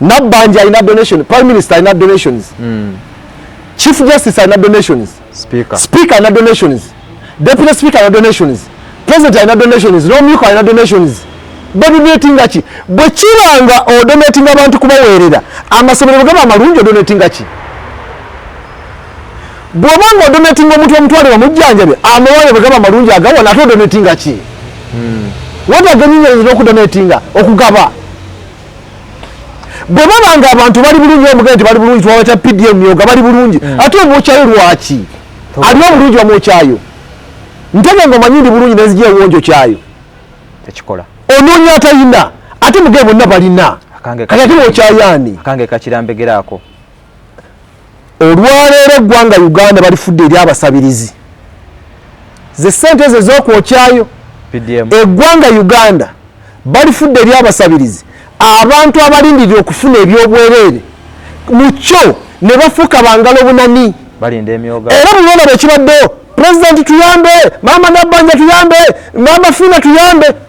nabbanja alina donation prime minister alina donations mm. chief justice alina donations speaker, speaker alina donations deputy speaker alina donations president alina donations nomyuka alina donations badonatinga ki bwe kiba nga odonatinga abantu kubaweerera amasomero bwe gaba amalungi odonatinga ki bwoba nga odonatinga omuntu omutwale bamujjanjabe amawale bwegaba malungi agawa nate odonatinga ki hmm. watagenyinyenzi nokudonatinga okugaba bwebaba nga abantu bali bulungi omugee nti bali bulungi twaba kya pdm myoga bali bulungi hmm. ate omwokyayo lwaki ali obulungi bamwokyayo ntege nga omanyi ndi bulungi nenzija ewonjo kyayo tekikola onoonya atalina ate mugee bonna balina kati ate mwokyayaani akange kakirambegeraako olwaleero eggwanga uganda balifudde eri abasabirizi ze sente ezo ezokwokyayo eggwanga uganda balifudde eri abasabirizi abantu abalindirira okufuna ebyobwereere mu kyo ne bafuuka bangala obunani era bulona bwekibaddewo pulezidenti tuyambe maama nabbanja tuyambe maama fiina tuyambe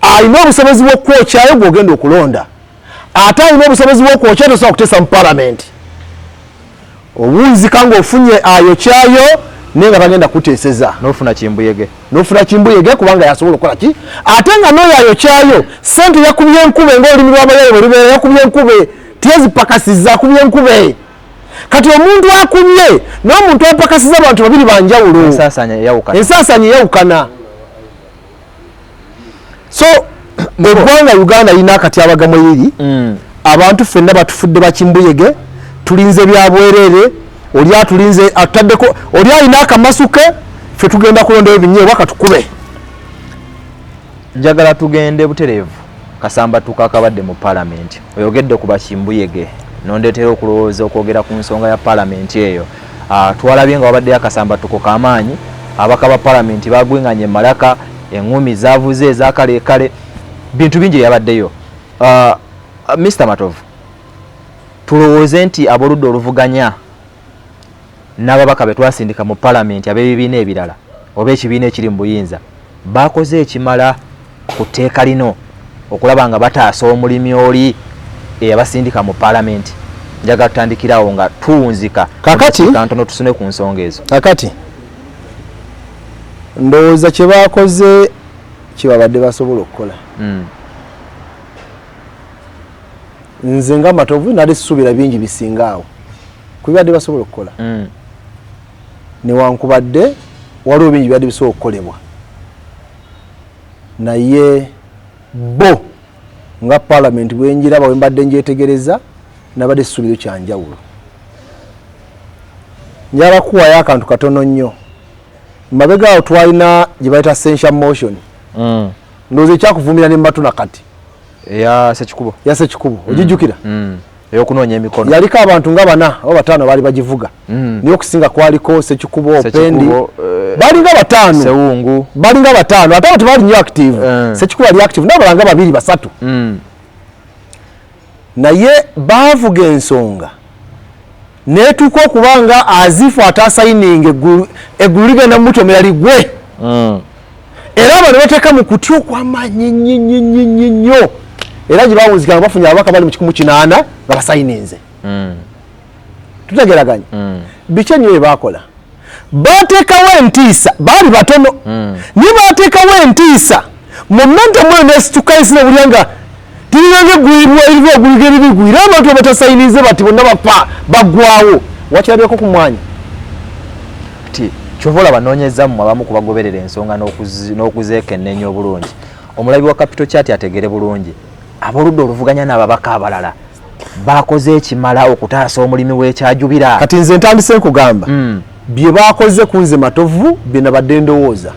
alina obusobozi bwokukwokyayo gwogenda okulonda ate alina obusobozi bwokwokya tosobola kuteesa mu palamenti owunzika ngaofunye ayokyayo naye nga bagenda kuteeseza nofuna kimbuyege nofuna kimbuyege kubanga yasobola okukola ki ate nga noyo ayokyayo sente yakubye enkube ngaolulimi lwabayaye bwelubeera yakubye enkube tezipakasiza akubye enkube kati omuntu akubye nomuntu apakasiza abantu babiri banjawulo ensasanya eyawukana so ngegwanga uganda yina akatyabaga mweyiri mm. abantu fenna batufudde bakimbuyege tulinze byabwerere oli atulinze atutaddeko oli alina akamasuke fe tugenda kulondayo binyeebwa katukube njagala tugende butereevu kasamba tukakabadde mu palamenti oyogedde ku bakimbuyege nondetera okulowooza okwogera ku nsonga ya palamenti eyo Ah, twalabye nga wabaddeyo akasambattuko ka maanyi, ababaka ba Palamenti baagwing'anye e Malaka, eng'umi zaavuze eza kaleekale, bintu bingi byabaddeyo. Ah, Mister Matovu, tulowooze nti ab'oludda oluvuganya n'ababaka be twasindika mu Palamenti ab'ebibiina ebirala oba ekibiina ekiri mu buyinza baakoze ekimala ku tteeka lino okulaba nga bataasa omulimi oli eyabasindika mu palamenti njagala tutandikirawo nga tuwunzika kakatikantono tusune ku nsonga ezo kakati ndowooza kye bakoze kyebabadde basobola okukola hmm. nze nga matovu nali susuubira bingi bisinga awo kubibadde basobola okukola hmm. newankubadde waliwo bingi byadde bisobola okukolebwa naye bbo nga parliament bwenjiraba wembadde njetegereza nabadde sisubiyo kyanjawulo njagala kuwayo akantu katono nnyo mabega awo twalina gyebayita sensia motion mm. ndowooza ekyakuvumira ne matuna kati yasekikubo mm. ogijjukira mm. eyokunoonya emikono yaliko abantu nga bana oba bataano baali bagivuga mm. naye okusinga kwaliko sekikubo opendi eh, balinga bataano sewungu balinga bataano ate abantu baali nyo active eh. sekikubo ali active naye balanga babiri basatu mm. naye baavuga ensonga netuuka okuba nga azifu atasayininga eggulu ligenda mumutomera ligwe mm. era abo ne bateeka mu kutya okwamaanyi nnyo nnyo era gye bawunzika nga bafunye ababaka bali mu kikumu kinaana nga basayininze hmm. tutegeraganya hmm. biki ennyo bye baakola bateekawo entiisa baali batono hmm. naye bateekawo entiisa mu menta mwenesitukaisina obulya nga tulina negwirwairwa ogwiga ebibigwi era abantu abatasayinize bati bonna bafa bagwawo wakirabyeko ku mwanya ti kyova olaba nonyeza mu abamu kubagoberera ensonga n'okuzeekennenya obulungi omulabi wa kapito kyati ategere bulungi aboludde oluvuganya n'ababaka abalala bakoze ekimala okutaasa omulimi w'ekyajubira kati nze ntandise nkugamba mm. bye baakoze kunze matovu bye nabadde ndowooza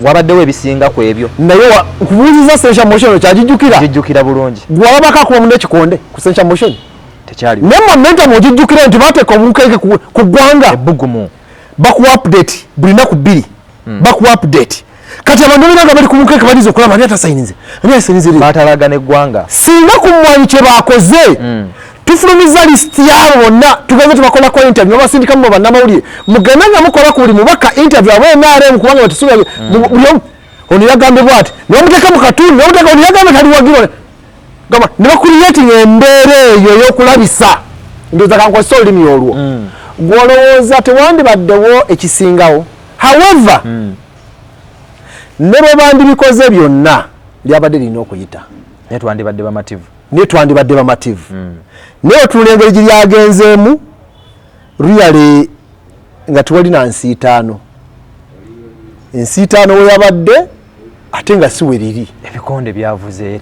wabaddewo ebisinga ku ebyo naye nkubuuziza sensa motion okyagijjukira gijjukira bulungi gwewabako akuba munda ekikonde ku sensa motion tekyali naye momentum ogijjukira nti bateeka obukeeke ku ggwanga ebbugumu bakuwa update buli naku bbiri hmm. baku update kati abantu bena nga bali ku mukeke baliza okulaba ani atasayinize ani asayinize batalaga ne gwanga singa ku mwanyi kye bakoze hmm. tufulumiza list yabo bonna tugenze tubakola ko interview abasindika mu banna mawulire mugenda nga mukola ku buli mubaka interview abo nrm kubanga batusuubira hmm. buli omu ono yagambye bwati ne bamuteka mu katundu ne bamuteka ono yagambye taliwagirwa gamba ne bakuliyetinga embeera eyo ey'okulabisa ndowooza kankozesa olulimi olwo mm. gwolowooza tewandibaddewo ekisingawo however mm. ne bwe bandibikoze byonna lyabadde lirina okuyita naye twandibadde bamativu naye twandibadde bamativu mm. naye otunula engeri gye lyagenzeemu really nga tewali na nsiitaano ensiitaano weyabadde ate nga si weriri ebikonde byavuze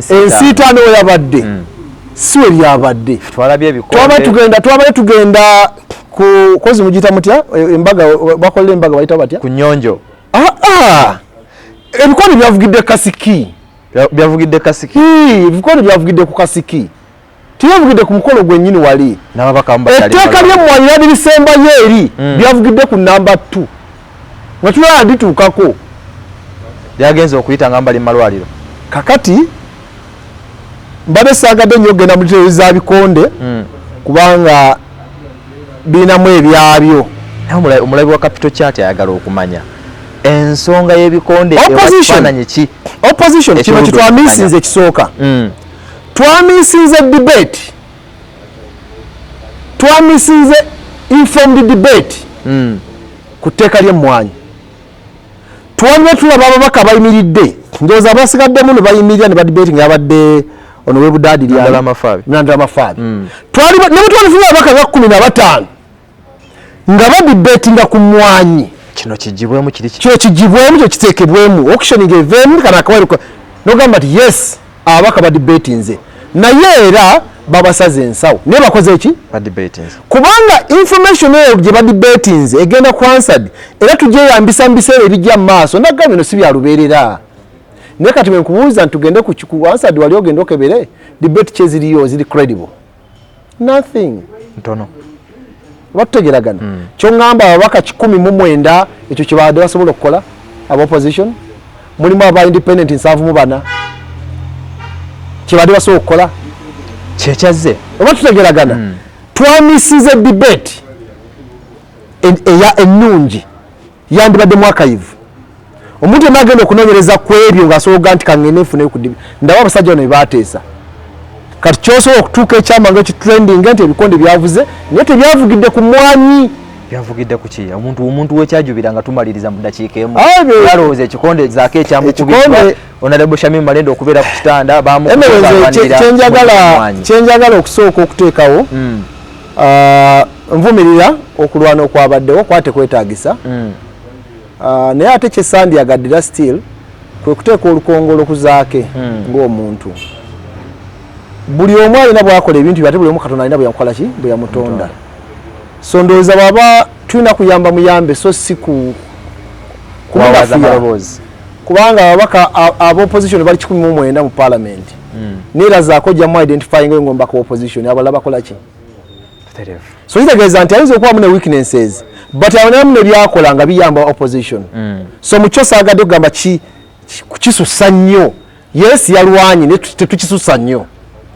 ensiitaano weyabadde hmm. si we byabadde twabadde tugenda twabadde tugenda ku kozi mugiyita mutya e, embaga bakolera embaga bayita batya ku nyonjo ah, ah. ebikonde byavugidde kasiki byavugidde kasiki ebikonde byavugidde ku kasiki Teyavugidde ku mukolo gwennyini wali. Etteeka ly'emmwanyi lyali lisembayo eri mm. byavugidde ku nnamba ttu nga tulaba lituukako lyagenze okuyita nga mbali mu malwaliro. Kakati mbadde saagadde nnyo okugenda mu litero za bikonde mm. kubanga birinamu ebyabyo. Naye omulabi wa kapito kyati ayagala okumanya ensonga y'ebikonde ewakifaananyi ki opposition kino kitwamisinze ekisooka mm. twamisinze debate twamisinze informed debate mm. ku tteeka lyemmwanyi twaliwo tulaba ababaka bayimiridde ndowooza abasigaddemu ne bayimirira ne badebate nga yabadde ono webudaadi lyandala amafaabi mm. twali ne bwe twalifunye ababaka nga kumi na bataano nga badibetinga ku mwanyi kino kijibwemu kiri kino kijibwemu kyo kiteekebwemu auctioning eveemu kana akawairo nogamba nti yes ababaka badibetinze naye era babasaze ensawo naye bakoze ki kubanga information eyo gye badibetinze egenda ku ansad era tugyeyambisa mu biseera ebijja mu maaso nagamba bino si bya lubeerera naye kati wenkubuuza nti tugende ku ansad wali ogende okebere debate kyeziriyo ziri credible nothing ntono batutegeragana mm. kyongamba ababaka kikumi mu mwenda ekyo kyebabadde basobola okukola aba opposition mulimu aba independent nsanvu mu bana kyebadde basobola okukola kyekyazze oba tutegeragana mm. twamisiza debate eya ennungi e yandibadde mwakayivu omuntu yena agenda okunonyereza kwebyo ngasobola nti kangende nfuneyo kudibi ndaba abasajja bano bebateesa kati kyosobola okutuuka ekyama nga ekitrending nti ebikonde byavuze naye tebyavugidde ku mwanyi byavugidde kuki omuntu omuntu wekyajubira nga tumaliriza mu dakiika emu yalowooza ekikonde zaako ekyamukubirwa onadebo shamim malenda okubeera ku kitanda bamukyenjagala okusooka okuteekawo hmm. ah, nvumirira okulwana okwabaddewo kuba tekwetagisa mm. ah, naye ate kyesandyagadira still kwe kuteeka olukongolo ku zaake mm. ng'omuntu buli omu alina bwakola ebintu bye ate buli omu katonda alina bweyamukola ki bwe yamutonda so ndowooza bwaba tulina kuyamba muyambe so si ku kubanga ababaka abopposition bali kikumi mu mwenda mu palamenti mm. nera zako jamu identifying ngo mbako opposition abala bakola ki so ita geza nti ayizo kwa mune weaknesses but awona mune byakola nga biyamba opposition mm. so mucho saga do gamba ki kuchisu sanyo yes yalwanyi ne tuchisu sanyo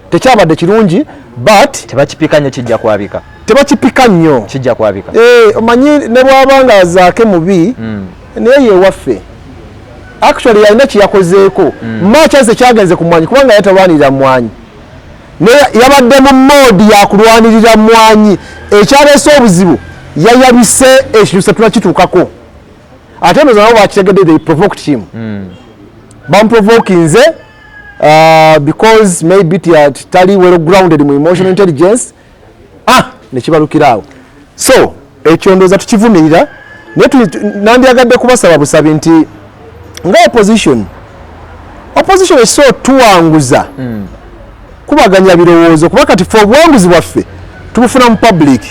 tekyabadde kirungi but tebakipika nyo kijja kwabika tebakipika nyo kijja kwabika eh omanyi ne bwabanga zake mubi mm. naye yewaffe actually yalina kyeyakozeeko mm. makyanse kyagenze ku mwanyi kubanga yatalwanirira mwanyi naye yabadde mu moodi yakulwanirira mwanyi ekyaleese obuzibu yayabise ekintu setunakituukako ate noza nabo bakitegedde they provoked him mm. bamuprovokinze uh, because maybe tali well grounded mu emotional intelligence ah nekibalukira awo so ekyo ndoza tukivumirira nandyagadde kubasaba busabi nti nga opposition opposition ekisobola tuwanguza mm. kubaganya birowoozo kuba kati fe obuwanguzi bwaffe tubufuna mu public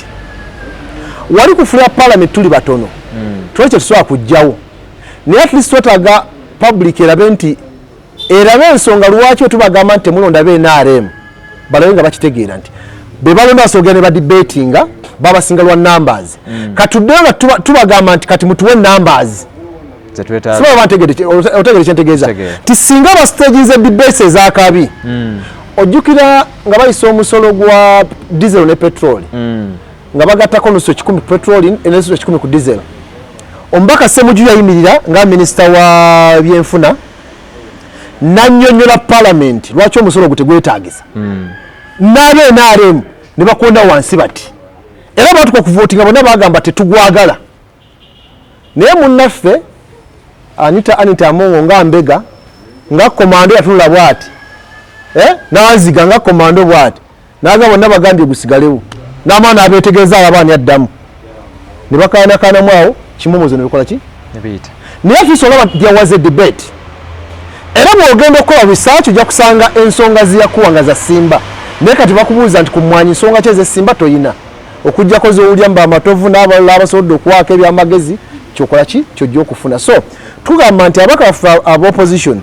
wali kufula parliament tuli batono mm. twali kyetusobola kujjawo naye at least twetaaga public erabe nti erabe ensonga lwaki wetubagamba nti temulonda be nrm balabe nga bakitegeera nti bebalonda basoogera ne badibetinga babasinga lwa numbers mm. katuddeyo nga tubagamba nti kati mutuwe numbers otegere kyentegeeza ti singa bastaginze debate ezakabi mm. ojjukira nga bayisa omusolo gwa diesel ne petroli mm. nga bagattako nusu ekikumi petroli nenusu ekikumi ku diesel omubaka semuju yayimirira nga minisita wa byenfuna nanyonyola palamenti lwaki omusolo ogwo tegwetagisa hmm. nabe nrm nebakonda wansi bati era batuka okuvotinga bona bagamba tetugwagala naye munaffe anita anita amongo nga mbega nga komando yatunula bwati eh? naziga nga komando bwati naga bonna bagambye gusigalewo n'amaana abeetegeeza alaba ani addamu ne bakaanakaanamu awo kimomozo ne bikola ki naye afiisa olaba there was a debate era bw'ogenda okukola research ojja kusanga ensonga ziyakuwa nga zasimba naye kati bakubuuza nti ku mmwanyi nsonga ki ezesimba toyina okujjako zowulya mba amatovu n'abalala abasobodde okuwaako ebyamagezi kyokola ki kyojja okufuna so tugamba nti abaka baffe aba opposition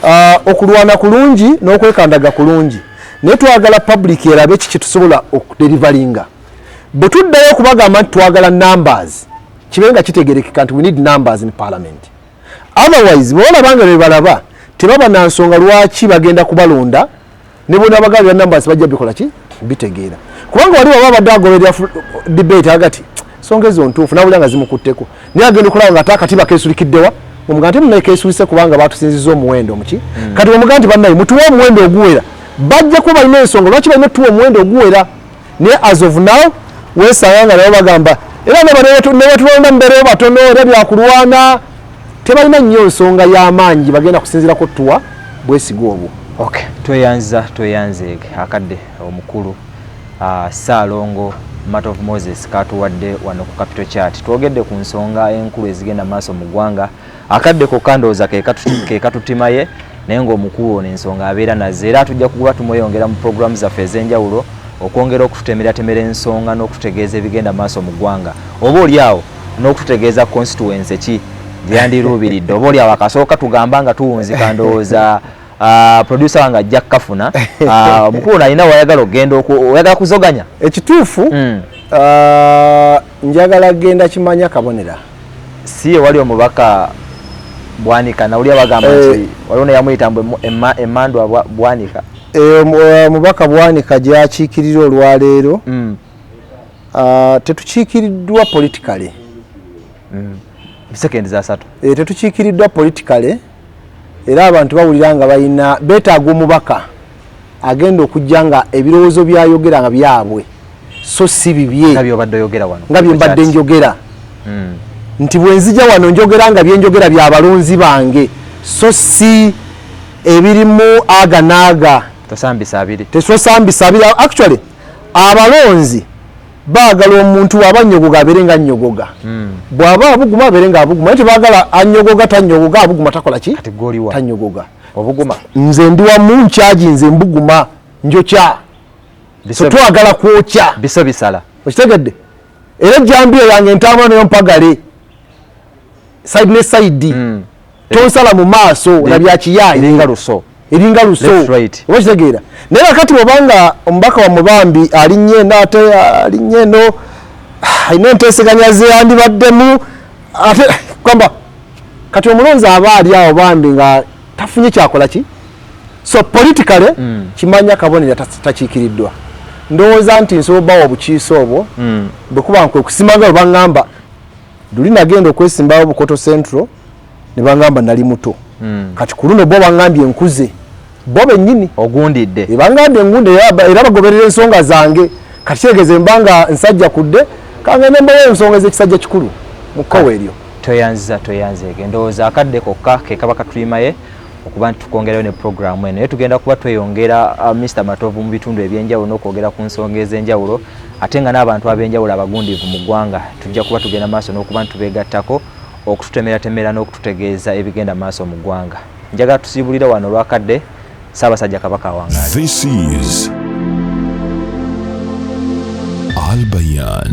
uh, okulwana kulungi n'okwekandaga kulungi naye twagala public erabe kiki tusobola okuderivalinga bwe tuddayo okubagamba nti twagala numbers kibe nga kitegerekeka nti we need numbers in parliament otherwise bwebalaba nga bebalaba tebaba na nsonga lwaki bagenda kubalonda ne bona abagabira numbers bajja bikola ki bitegeera kubanga wali waba abadde agoberera debate agati songa ezo ntuufu nabulya nga zimukutteko naye agenda okulaba nga ate akatiba kesulikiddewa omuga nti munaye kesulise kubanga batusinziza omuwendo omuki hmm. kati omuga nti banaye mutuwe omuwendo oguwera bajja kuba balina ensonga lwaki balina otuwa omuwendo oguwera naye as of now wesanga nga nabo bagamba era nebatulonda mubereyo batono era byakulwana tebalina nnyo nsonga y'amaanyi bagenda kusinzira kuttuwa bwesiga obwo okay tweyanza tweyanze akadde omukulu Ssaalongo Matt of Moses katuwadde wano ku Capital Chat. Twogedde ku nsonga enkulu ezigenda maaso mu ggwanga. Akadde kokka ndowooza ke katutimaye naye ng'omukulu ono ensonga abeera nazo era tujja kuba tumweyongera mu pulogulaamu zaffe ez'enjawulo okwongera okututemeratemera ensonga n'okututegeeza ebigenda maaso mu ggwanga oba oli awo n'okututegeeza constituency ki gyeyandiruubiridde oba oli awo akasooka tugamba nga tuwunzika ndowooza Ah, producer wange ajja kukafuna ah, omukulu nalina wayagala okugenda oyagala kuzoganya ekituufu hmm. ah, njagala genda kimanya kabonera si ewali omubaka bwanika nawulira bagamba eh. nti waliwo neyamuyita mbu emandwa bwanika eh, eh, mubaka bwanika gyakiikirira olwaleero hmm. tetukiikiriddwa politikaly hmm. sekendi zasatu tetukiikiriddwa politikaly era abantu bawulira nga balina beetaaga omubaka agenda okujja nga ebirowoozo byayogera nga byabwe so si bibye nga byembadde njogera hmm. nti bwenzija wano njogera nga byenjogera bya balonzi bange so si ebirimu aga naaga tesosambisa abiri actually abalonzi Baagala omuntu waba anyogoga abeere nga anyogoga. Hmm. Bwaba abuguma abeere nga abuguma. Naye tebaagala anyogoga tanyogoga abuguma takola ki? Kati gwe oliwa? Tanyogoga. Obuguma. Nze ndi wamu nkyaji nze mbuguma njokya. So twagala kwokya. Biso bisala. Okitegedde? Era jambiya yange ntaama nayo mpagale. Side ne side. Mm. tonsala mu maaso na bya kiyaye eringa luso eringa luso okitegeera naye kakati obanga omubaka wa mubambi alinnye naate alinnye no alina ah, enteeseganya zeyandibaddemu ate kwamba kati omulonzi aba ali awo bambi nga tafunye kyakola ki so politically mm. kimanya kabonera takiikiriddwa ndowooza nti nsobola obawa obukiisa obwo mm. bwekuba nkwe kusimaga oba ngamba luli nagenda okwesimbawo bukoto central nebangamba nali muto mm. kati kuluno bo bangambye nkuze bo benyini ogundidde ebangambye eh, ngunde era bagoberera ensonga zange kati kyegeze mbanga nsajja kudde kangende mbawo ensonga ezekisajja kikulu mukkowa eryo toyanziza toyanzege endowooza akadde kokka kekaba katulimaye okuba nti tukwongerayo ne puroguramu eno naye tugenda kuba tweyongera uh, mr matovu mu bitundu ebyenjawulo n'okwogera ku nsonga ez'enjawulo ate nga n'abantu ab'enjawulo abagundiivu mu ggwanga tujja kuba tugenda maaso n'okuba nti tubeegattako okututemeratemera n'okututegeeza ebigenda maaso mu ggwanga njagala tusiibulire wano olwakadde ssaabasajja kabaka awangaale albayan